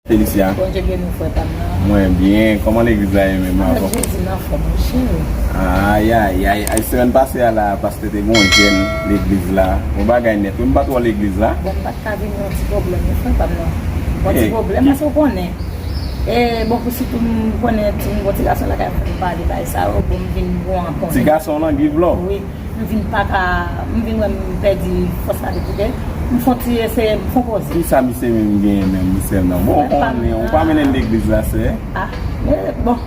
Felicia Mwen byen, koman legliz la ye menm avon? Ayayay, ay semen pase a la, paste te gwen jen legliz la Bon bagay net, mwen pa tro legliz la Bon, mwen pa tro legliz la Mwen pa tro legliz la E bon pou si poum konnen ti gon ti gason lakay m poum pale bay sa yo bon m vin bon an konnen. Ti gason lan giv lò. Wi m vin paka m vin wè m pèdi fòs la depi lè m fon ti eseye m fon poze. Kisa misye menm genyen menm misye nan bon ou pa mennen legliz la sè. Ah bon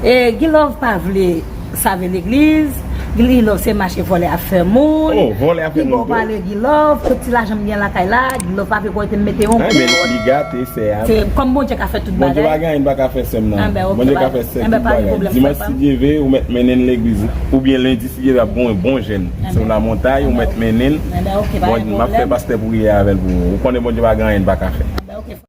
e gilove pa vle. Save legliz, Gilove se mache vòlè ap fè moun, pi bon pale Gilove, tout ti lajan m gen lakay la, Gilove pa vle pou ete m mete yon kout, kòm Bondye ka fè tout bagay, anben ok, anben pa gen pwoblèm frè pa m, anben ok pa gen pwoblèm.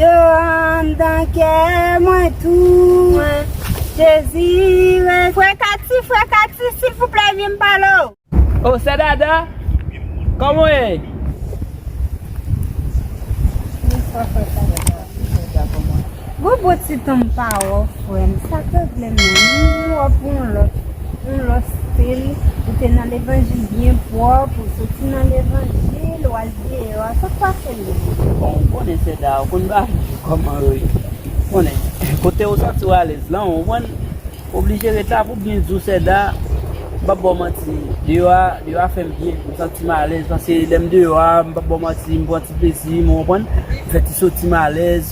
Yo anndan kè mwen tou mwen dezire. Frè Kati, frè Kati, silvouplè ede m pale w. Oh sè Dada, kòman w ye? Bonswa frè Kati, bonswa sè Dada. Bon bon ti tan m pa wè w frè m, sa k regle menm? M vin wè w pou yon lòt, yon lòt stil. Ou te nan levanjil byen pwòp, ou soti nan levanjil, w al. Leo a sak pase Leo. Bon ou konnen seda ou konn bagay yo kòman yo ye konnen kote ou santi ou alèz lan ou konprann ou oblije ret la pou byen di ou seda m pap ba w manti deyò a deyò a fèm byen m santi m alèz paske lèm deyò a m pap ba w manti m pran ti plezi m ou konprann fè ti soti m alèz.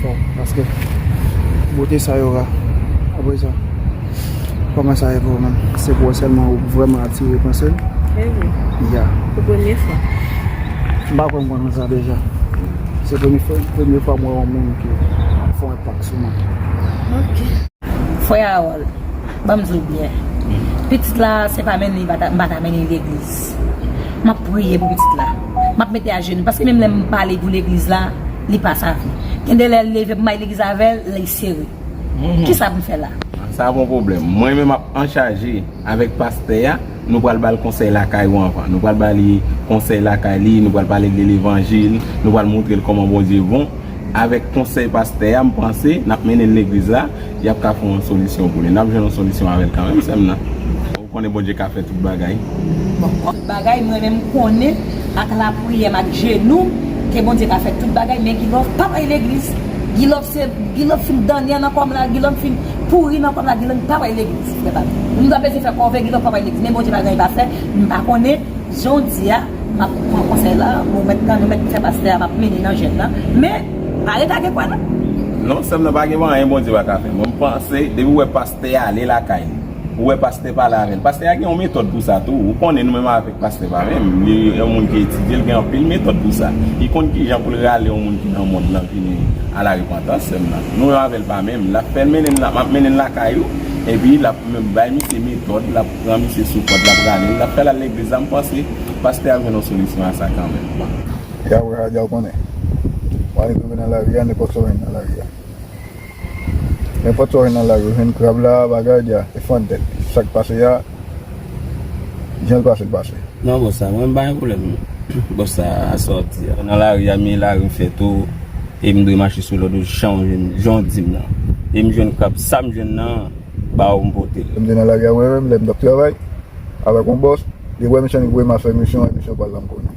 Bon, paske bote sa yo ra. Apre sa, kòman sa ye pou ou menm? Se pou ou sèlman ou vrèman atire panse l? E wi. Ya. Pou premye fwa. M pa kwè m konnen sa deja. Se premye fwa, premye fwa m wè yon moun ki ap fè yon enpak sou mwen. Ok. Frè Harold, ban m di w byen. Pitit la, se pa mennen li m pa ta mennen li legliz. M ap priye pou pitit la. M ap mete ajenou. Paske menm lè m pale pou legliz la. li pa save. Gen de lè l leve pou m bay legliz avè l, li sere. Ki sa pou m fè la? Sa a pa yon pwoblèm. Mwen menm m ap anchaje avèk pastè a. Nou pral ba l konsèy lakay ou anvan. Nou pral ba li konsèy lakay li, nou pral pale li levanjil, nou pral montre l kòman Bondye bon. Avèk konsèy pastè a, m panse, n ap mennen l legliz la. Yap ka fè yon solisyon pou li. Nap jwenn yon solisyon avèl kanmèm sèm nan. Ou konnen Bondye ka fè tout bagay. Bon tout bagay mwen menm konnen ak la priyèm ak jenou ke Bondye ka fè tout bagay men Guilove pap al legliz Guilove se Guilove fin danyè nan kòm la Guilove fin pouri nan kòm la Guilove pap al legliz frè pam nou ta bese fè kòve Guilove pap al legliz men Bondye pa gen anyen li pa fè m pa konnen jan w di a map pran konsèy la ou mèt nan nou mèt fè pastè a map mennen nan jèn nan men. Vale pa gen kwen non. Non sèm nan pa gen anyen Bondye pa ka fè mwen panse depi ou wè pastè a ale lakay li ou wè pastè pale avèl pastè a gen yon metòd pou sa tou ou konnen nou menm avèk pastè pa menm li yon moun ki etidye li gen anpil metòd pou sa li konn kijan poul rale yon moun ki nan mond lan vini a la repantans sèm nan nou menm avèl pa menm lap fè mennen map mennen lakay ou epi lap bay misye metòd lap pran misye sou kòd lap ralel lap fèl al legliz la mpanse pastè ap jwenn yon solisyon a sa kanmenm. Ya wè a ya w konnen. Mwen ale touve nan lari a nenpòt sa w jwenn nan lari a. Nenpòt sa w jwenn nan lari a ou jwenn krab la bagay dia e fon dèt. Sa k pase a jan l pase l pase. Non bòs sa mwen m pa gen pwoblèm non. Bòs sa a sa w di a. Nan lari a men lari m fè tou e m dwe mache sou lòd ou jan w jwenn jan w di m nan. E m jwenn krab sa m jwenn nan ba w m pote l. Lè m te nan lari a mwen menm lè m t ap travay avèk yon bòs li wè m san li voye m al fè misyon e misyon pa l la m konnen.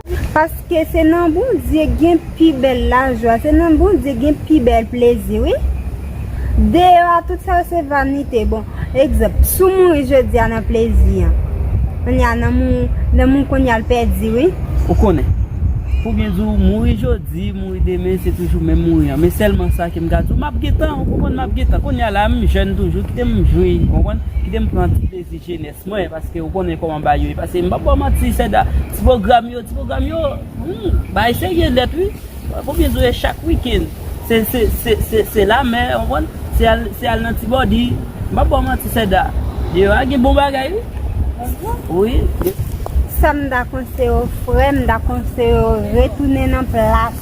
Paske se nan Bondye gen pi bèl lajwa, se nan Bondye gen pi bèl plezi wi. Deyò a tout sa yo se vanite. Bon, egzanp, si w mouri jodi a nan plezi an, kounye a nanm ou, nanm ou kounye a l pèdi wi. Ou konnen. Pou byen di w, mouri jodi, mouri demen se toujou menm mouri an. Men sèlman sa ke m ka di w, m ap gentan, ou konprann, m ap gentan. Kounye a la m jèn toujou, kite m jwi, ou konprann, kite m pran ti plezi jenès. Mwen paske ou konnen koman bagay yo ye paske m pap baw manti seda ti pwogram yo ti pwogram yo humm bagay serye nèt wi konbyen dwe chak weekend se se se se lamè ou konprann se al se al nan ti body m pap baw manti seda deyò a gen bon bagay wi bon wi. Sam ta konseyew frèm m ta konseyew retounen nan plas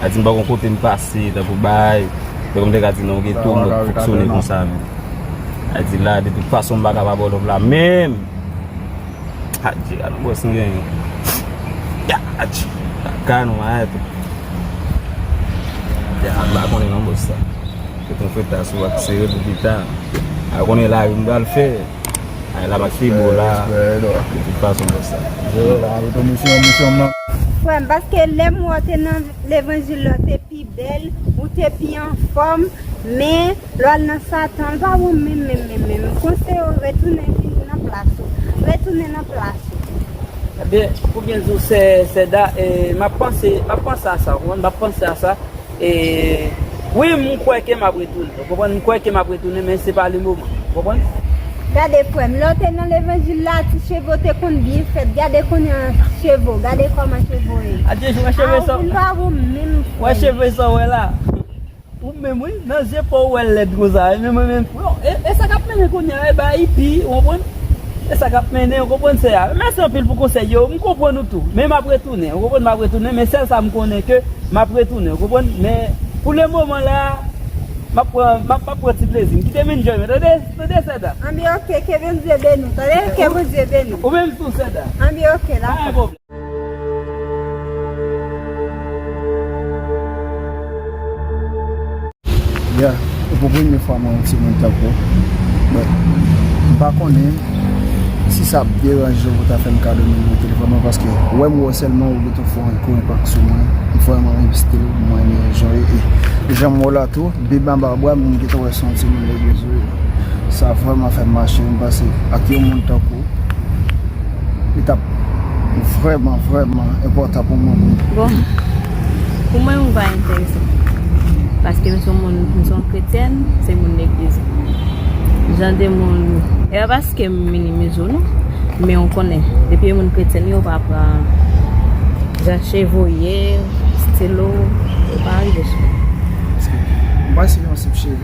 A di m pa kon kote m pase, tankou bay, tankou m te ka di nan yon geto m ap fonksyone konsa menm. A di la de tout fason m pa ka pa ba w love la menm. A di a nou bwès nou genyen. Ya a di lakay nou a eto. Ya m pa konnen nan bwès sa. Fout yon feta sou ak sere pou pita. M pa konnen lari m pral fè. Frèm paske lèm wè w te nan levanjil la w te pi bèl, ou te pi anfòm, men lè w al nan satan l pa bon menm menm menm menm, m konseye w retounen vin nan plas ou, retounen nan plas ou. Ebyen pou byen di w sè Seda map panse a sa w konprann map panse a sa. E Wi m kwè ke m ap retounen. Ou konprann? M kwè ke m ap retounen men se pa le moman. Ou konprann? Gade frèm, lè w te nan levanjil la ti cheve w te konn byen fèt gade kounya cheve w gade kòman cheve w ye. Adye wè cheve sa. Ou vin pa wonm menm frèm. Wè cheve sa w wè la. Wonm menm wi, nan zye paw wè lèd konsa. Menm mwen menm. Bon, e sa kap mennen kounya e ba ipi, ou konprann? E sa kap mennen ou konprann sè a. Mèsi anpil pou konsèy yo, m konprann ou tou, men map retounen ou konprann map retounen men sèl sa m konnen ke map retounen ou konprann men pou le moman la map pran map map pran ti plezi m kite m enjoy mwen tande tande sè da. Anbi ok ke Bndye beni w tande ke Bndye beni w Ou menm tou sè da. Anbi ok la. Yeah, e pou premye fwa mwen wè timoun tankou w. But, m pa konnen si sa ap deranje w pou w ta fè m kado nimewo telefòn mwen paske wè m wè w sèlman ou gentan fè yon kouri pak sou mwen. M vrèman renmen still ou, m renmen jan w ye e jan m wè w la tou, bib anba bra m, m gentan wè se yon timoun legliz ou ye. Sa vrèman fè m mache, m panse ak yon moun tankou w. Li tap vrèman vrèman enpòtan pou mwen pou m. Bon, pou mwen ou pa enterese. Paske m son moun, m son kretyèn, m se moun legliz. Jan de moun, e pa paske m minimize ou non. Men ou konnen, depi yon moun kretyèn yo pa pran jan cheve voye, stil ou, ou pa rive sou. Paske m pa si yon stil cheve.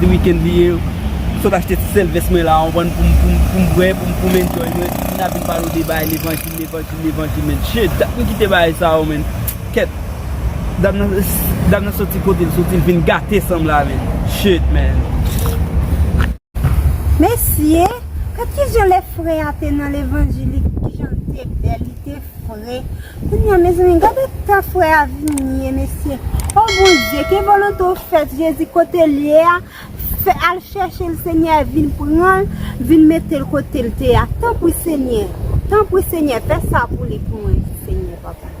Se weekend li ye, m sot achte ti sèl vès mwen la an bann poum poum poum bwè poum poum enjoy mwen, m nan vin pale w de bagay levanjil levanjil levanjil men che dat m kite bagay sa yo men kèt dam nan dam nan soti kote l soti l vin gate san m la men che man. Mesye, gad kijan lè frè a te nan levanjil li kijan l te bèl, li te fre. Kounye a mezanmi gad eta frè a vini ye mesye. O Bondye ke volonte w fèt Jezi kote l ye a, fè al chèche l Senyè vin pran l, vin mete l kote l te a. Tanpri Senyè, tanpri Senyè fè sa pou li pou mwen Senyè papa.